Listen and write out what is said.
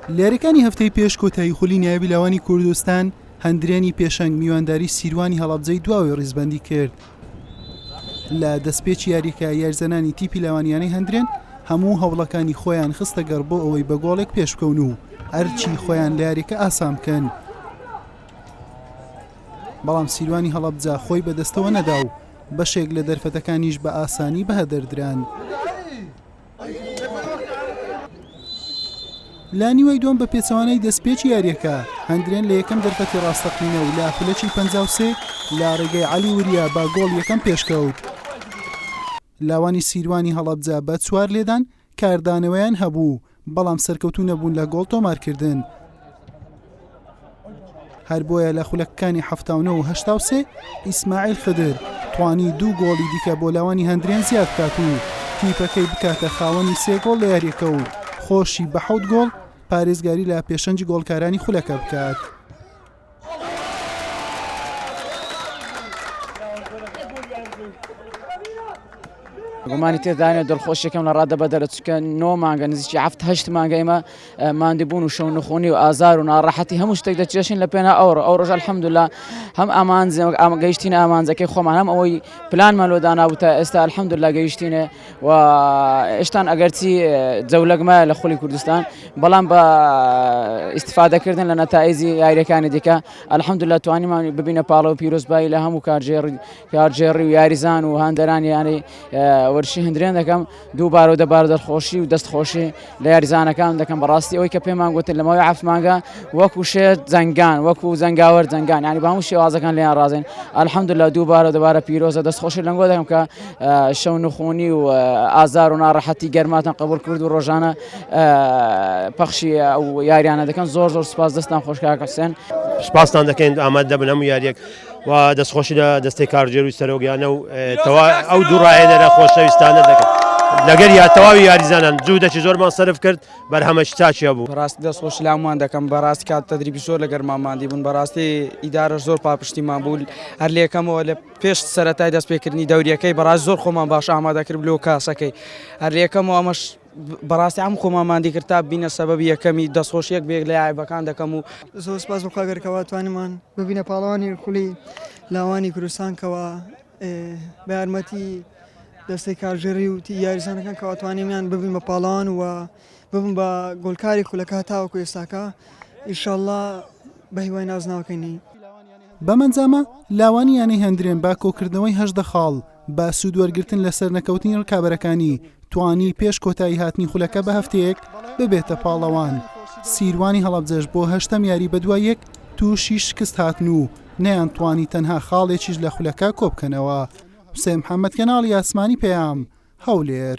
لێرەکانی هەفتەی پێش کۆتایی خولی نایبی لاوانی کوردستان هەندرێنی پێشەنگ میوانداری سیروانی هەڵەبجەی دواوەی ڕیزبەندی کرد لە دەستپێکی یاریەکە یارزەنانی تیپی لاوانیانەی هەندرێن هەموو هەوڵەکانی خۆیان خستە گەڕ بۆ ئەوەی بە گۆڵێک پێشکەون و ئەرچی خۆیان لە یاریەکە ئاسان بکەن بەڵام سیروانی هەڵەبجا خۆی بەدەستەوە نەدا و بەشێک لە دەرفەتەکانیش بە ئاسانی بەهدەردران. لە نیوەی دووەم بە پێچەوانەی دەستپێکی یارییەکە هەندرێن لە یەکەم دەرفەتی ڕاستەقینە و لە خولەکی پەنج و سێ لە ڕێگەی عەلی وریا بە گۆڵ یەکەم پێشکەوت لاوانی سیروانی هەڵەبجە بە چوار لێدان کاردانەوەیان هەبوو بەڵام سەرکەوتوو نەبوون لە گۆڵ تۆمارکردن. هەر بۆیە لە خولەکەکانی هەفتا و نۆ و هەشتا و سێ ئیسماعیل خدر توانی دوو گۆڵی دیکە بۆ لاوانی هەندرێن زیاد بکات و تیپەکەی بکاتە خاوەنی سێ گۆڵ لە یاریەکە و خۆشی بە حەوت گۆڵ پارێزگاری لە پێشەنجی گۆڵکارانی خولەکە بکات. گومانی تێدانە دڵخۆشیەکەم لە ڕادە بەدەرە چکە نۆ مانگە نزیکی هەفت هەشت مانگە ئێمە ماندوبون و شەو نخونی و ئازار و ناڕەحەتی هەموو شتێک دەچێشین لە پێنا ئەو ئەو ڕۆژە الحمدللە هەم ئامانج ئەم گەیشتینە ئامانجەکەی خۆمان هەم ئەوەی پلانمان لۆ دانابوو تا ئێستا الحمدللە گەیشتینێ و ئێشتان ئەگەرچی جەولەکمایە لە خولی کوردستان بەڵام بە ئیستفادەکردن لە نەتائیجی یاریەکانی دیکە الحمدللە توانیمان ببینە پاڵەوە پیرۆزبایی لە هەموو کارژێڕ کارگێڕی و یاریزان و هاندەرانی یانەی وەرشی هەندرێن دەکەم دوو بار و دەبار دەرخۆشی و دەست خۆشی لە یاریزانەکان دەکەم بەڕاستی ئەوی کە پێمان گوتن لەمەوەی عفمانگە وەکو شێت جەنگان وەکو زەنگاوەر جەنگان ینی بە هەموو شێوازەکان لێیان ڕازێن ئەلحەمد لە دوو بارە دەبارە پیرۆزە دەست خۆشی لەنگۆ دەکەم کە شەو نخۆنی و ئازار و ناڕەحەتی گەرماتان قبول کرد و ڕۆژانە پەخشی ئەو یاریانە دەکەن زۆر زۆر سپاس دەستان خۆشکە حسێن سپاستان دەکەین ئاماد دەبن هەموو یاریەک و دەستخۆشی لە دەستەی کارگێروی سەرۆک یانە و ئەو دوو ڕاهێنەرە خۆشەویستانە دەکەن لەگەر یا تەواوی یاریزانان جوو دەچی زۆرمان سرف کرد بەرهەمەش چاچیا بوو ڕاست دەست خۆش لامان دەکەم بەڕاست کات تدریبی زۆر لەگەر ماماندی بوون بەڕاستی ئیدارە زۆر پاپشتیمان بوو هەر لەکەمەوە لە پێش سەرەتای دەستپێکردنی دەوریەکەی بەڕاست زۆر خۆمان باش ئامادەکرد لۆ کاسەکەی هەر لەکەمەوە ئەمەش بەڕاستی عەم خۆمان ماندی کرد تا ببینە سەبەبی یەکەمی دەستخۆشیەک بەیەک لە یاعیبەکان دەکەم و زۆر سوپاس بۆ خوا گەر کەوا توانیمان ببینە پاڵەوانی خولی لاوانی کوردستان کەوا بە یارمەتی دەستەی کارگێڕی و تی یاریزانەکان کەوا توانیمیان ببین بە پاڵەوان و ببم بە گۆلکاری خولەکە تاوەکو ئێستاکە ئیشەڵڵا بە هیوای نازناوەکەی نین. بەم ئەنجامە لاوانی یانەی هەندرێن بە کۆکردنەوەی هەژدە خاڵ بە سوودوەرگرتن لە سەرنەکەوتنی رکابەرەکانی توانی پێش کۆتاییهاتنی خولەکە بە هەفتەیەک ببێتە پاڵەوان سیروانی هەڵەبجەش بۆ هەشتەم یاری بەدوای یەک تووشی شکست هاتن و نەیانتوانی تەنها خاڵێکیش لە خولەکە کۆبکەنەوە. حوسێن محەممەد، کەناڵی ئاسمانی پەیام، هەولێر.